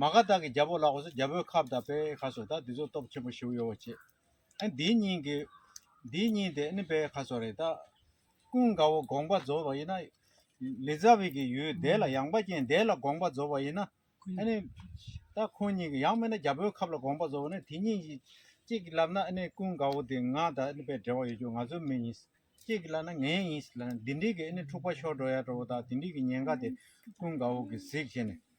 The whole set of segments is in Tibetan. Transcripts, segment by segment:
མ་ག་དག་གི་རྒྱལ་པོ་ལ་གོ་ས་རྒྱལ་པོའི་ཁབ་དང་པའི་ཁ་སོ་ད་འདི་ཚོ་སྟོབས་ཆེན་པོ་ཞིག་ཡོ་བ་བྱེད་ཨ་འདིའི་སྙིང་གི་འདིའི་སྙིང་དེ་ཨ་ནི་པའི་ཁ་སོ་རེད་ད། ཀུན་དགའ་བོ་དགོངས་པ་རྫོགས་པ་ཡིན་ན། ལི་ཛ་བི་གི་ཡུལ་འདས་ལ་ཡངས་པ་ཅན་འདས་ལ་དགོངས་པ་རྫོགས་པ་ཡིན་ན། ཨ་ནི། ད་ཁོང་གཉིས་ཀྱི་ཡང་མིན་ན་རྒྱལ་པོའི་ཁབ་ལ་དགོངས་པ་རྫོགས་པ་ནི་དེ་གཉིས་ཀྱི་གཅིག་གིས་ལབ་ན་ཨ་ནི་ཀུན་དགའ་བོ་དེ་ང་དང་ཨ་ནི་པའི་འབྲེལ་བ་ཡོད་ཀྱང་ང་ཚོའི་མི་ཡིན། གཅིག་གིས་ལབ་ན་ངའི་ཡིན་ལབ་ན་དེ་འགྲིག་གི་ཨ་ནི་འཁྲུག་པ་ཤོར་འགྲོ་ཡག་འགྲོ་བོ་ད་དེ་འགྲིག་གི་ཉེན་ཁ་དེ་ཀུན་དགའ་བོ་གིས་གཟིགས་བྱས་ནས་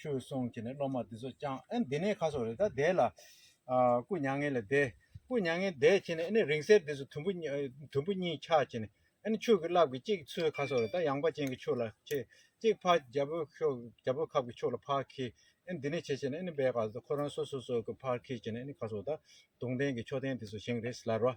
ཁྱོད་སོང་ཁྱེད་ནས་སློབ་མ་འདི་ཚོ་བསྐྱངས་ཨེ་འདི་ནས་ཁ་སོགས་རེད་ད་བསྡད་ལ། སྐུ་མྱ་ངན་ལས་བསྡད། སྐུ་མྱ་ངན་བསྡད་ཁྱེད་ནས་ཨེ་ནས་རིང་བསྲེལ་འདི་ཚོ་དུམ་བུ། དུམ་བུ་གཉིས་འཁྱགས་ཁྱེད་ནས་ཨེ་ནས་ཆོས་ཀྱི་རླབས་ཀྱི་གཅིག་ཚོའི་ཁ་སོགས་རེད་ད་ཡངས་པ་ཅན་གྱི་ཆོས་ལ་ཁྱེད་གཅིག་འཕགས་རྒྱ་བོད་ཤོག་རྒྱ་བོད་ཁབ་ཀྱི་ཆོས་ལ་འཕགས་ཁྱེད་ཨེ་འདི་ནས་བྱེད་ཁྱེད་ནས་ཨེ་ནས་བས་ག་ཚོད་ཁོ་རང་སོ་སོ་སོ་གི་འཕགས་ཁྱེད་ཁྱེད་ནས་ཨེ་ནས་ཁ་སོགས་ད་དུང་ལྡན་གྱི་ཆོས་ལྡན་འདི་ཚོ་བཞེངས་རེས་ལར་བ།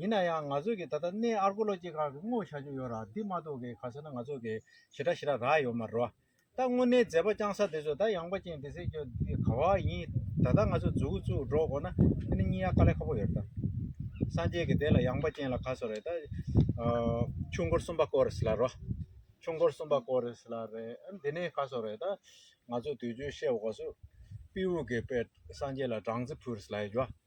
ཡིན་ན་ཡང་ང་ཚོས་ཀྱི་ད་ལྟ་གནས་ཨར་གོ་ལོ་ཅི་གང་གི་དངོས་བྱ་རྒྱུ་ཡོད་ར་འདི་མ་གཏོགས་ཀྱི་ག་ཚོད་ན་ང་ཚོ་ཀྱི་ཞི་ར་ཞི་ར་རག་ཡོད་མ་རེད་བ། ད་དངོས་གནས་མཛད་པ་རྐྱང་ས་དེ་ཚོ་ད་ཡངས་པ་ཅན་དེ་ཚོས་ཀྱི་འདི་ག་བ་ཡིན་ད་ལྟ་ང་ཚོ་འཛུགས་བཙུགས་འགྲོ་དགོས་ན་དེ་ནི་སྙིང་ཡ་དཀའ་ལས་ཁ་པོ་ཡོད་རེད་ད། སངས་རྒྱས་ཀྱི་དེ་ལ་ཡངས་པ་ཅན་ལ་ག་ཚོད་རེད་ད། ཆུ་མགོར་གསུམ་པ་བརྐོ་རེས་ལ་རོ། ཆུ་མགོར་གསུམ་པ་བརྐོ་རེས་ལ་རེད་འདི་ནི་ག་ཚོད་རེད་ད། ང་ཚོས་དུས་རྒྱུན་བཤད་བའོ་སུ། དཔེའུ་གི་དཔེ་སངས་རྒྱས་ལ་སྦྲང་རྩི་ཕུལ་རེས་ལ་ཡོད་རྒྱུ་བ།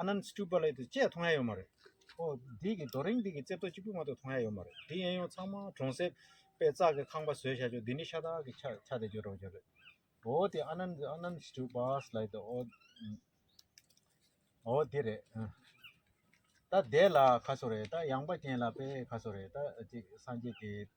ཨ་ནན་སི་ཏུ་པ་ལའི་དེ་བཅས་མཐོང་ཡ་ཡོད་མ་རེད། ཨོ། འདི་གི་རྡོ་རིང་འདི་གི་རྩེ་ཐོ་གཅིག་པུ་མ་གཏོགས་མཐོང་ཡ་ཡོད་མ་རེད། འདི་ཡན་ཡོང་ཚང་མ་གྲོང་གསེབ་པས་ཙག་གི་ཁང་པ་བཟོས་བཞག་ཆོག་འདི་ནི་ཤ་ཏག་གི་ཆ་ཆ་དེ་བརྗོད་གྲོགས་རེད། ཨོ་དེ་ཨ་ནན་ཨ་ནན་སི་ཏུ་པས་ལའི་དེ་ཨོ། ཨོ་དེ་རེད། ད་དེ་ལ་ཁ་སོ་རེད་ད་ཡངས་པ་ཅན་ལ་པས་ཁ་སོ་རེད་ད་ཅིག་སངས་རྒྱས་དེ།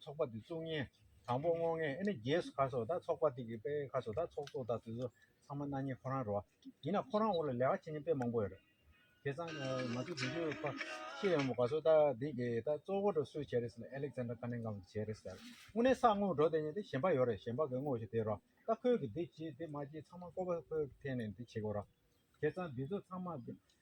ཚོགས་པ་དེ་བཙུགས་ཉིན་དང་པོ་སྔོ་ངད་ཨེ་ནི་རྒྱས་སུ་གར་སོ་ད་ཚོགས་པ་དེ་གི་དཔེ་གར་སོ་ད་ཚོགས་གཙོ་ད་དེ་ཚོ་ཚང་མ་གནའ་ཉིན་ཁོ་རང་རོ་ཡིན་ན་ཁོ་རང་འོག་ལ་ལས་ཀ་བྱེད་ཉིན་དཔེ་མང་པོ་ཡོད་རེད་དེ་ཚང་ང་ཚོ་དེ་དུས་ཁོ་ཤི་ཡོང་མོ་གར་སོ་ད་དེ་གི་ད་གཙོ་བོ་འགྲོ་སུ་བྱས་རེད་ཟེར་ན་ཨེ་ལེག་ཚན་དྲ་ཀ་ནན་གང་གི་བྱས་རེད་ཟེར་དངོས་གནས་ས་དངོས་འགྲོ་དེ་ཉིན་དེ་ཞེན་པ་ཡོད་རེད་ཞེན་པ་གི་དངོས་བྱས་དེ་རོ་ད་ཁོས་གི་དེ་བྱས་དེ་མ་བྱས་ཚང་མ་ཀོ་བ་ཁོས་ཐད་ནས་དེ་བྱས་གོ་རོ་དེ་ཚང་དེ་ཚོ་ཚང་མ་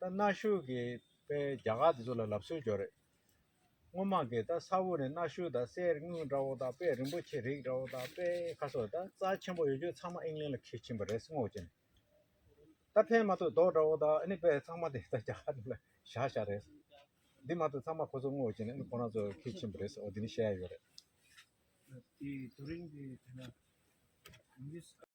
ད་གནའ་ཤུལ་གྱི་དཔེ་རྒྱ་གར་དེ་ཚོ་ལ་ལབ་སྲོལ་འཇོག་རེད། སྔོན་མ་གི་ད་ས་དབུ་ནས་གནའ་ཤུལ་དང་གསེར་དངུལ་འདྲ་བོ་དང་དཔེ་རིན་པོ་ཆེ་རིགས་འདྲ་བོ་དང་དཔེ་ཁ་སོགས་ད་རྩ་ཆེན་པོ་ཡོད་རྒྱུ་ཚང་མ་ཨིང་ལན་ལ་ཁྱེར་ཕྱིན་པ་རེད་སྔོ་བོ་ཅན། ད་ཕན་མ་ཐོག་རྡོག་འདྲ་བོ་དང་ཨནི་དཔེ་ཚང་མ་དེ་ད་རྒྱ་གར་དེ་ལ་བཞག་བཞག་རེད། འདི་མ་ཐོག་ཚང་མ་ཁོ་ཚོ་སྔོ་བོ་ཅན་ཨནི་ཁོ་རང་ཚོ་ཁྱེར་ཕྱིན་པ་རེད་འོ་འདི་ནི་བཤད་ཡ་ཡོད་རེད།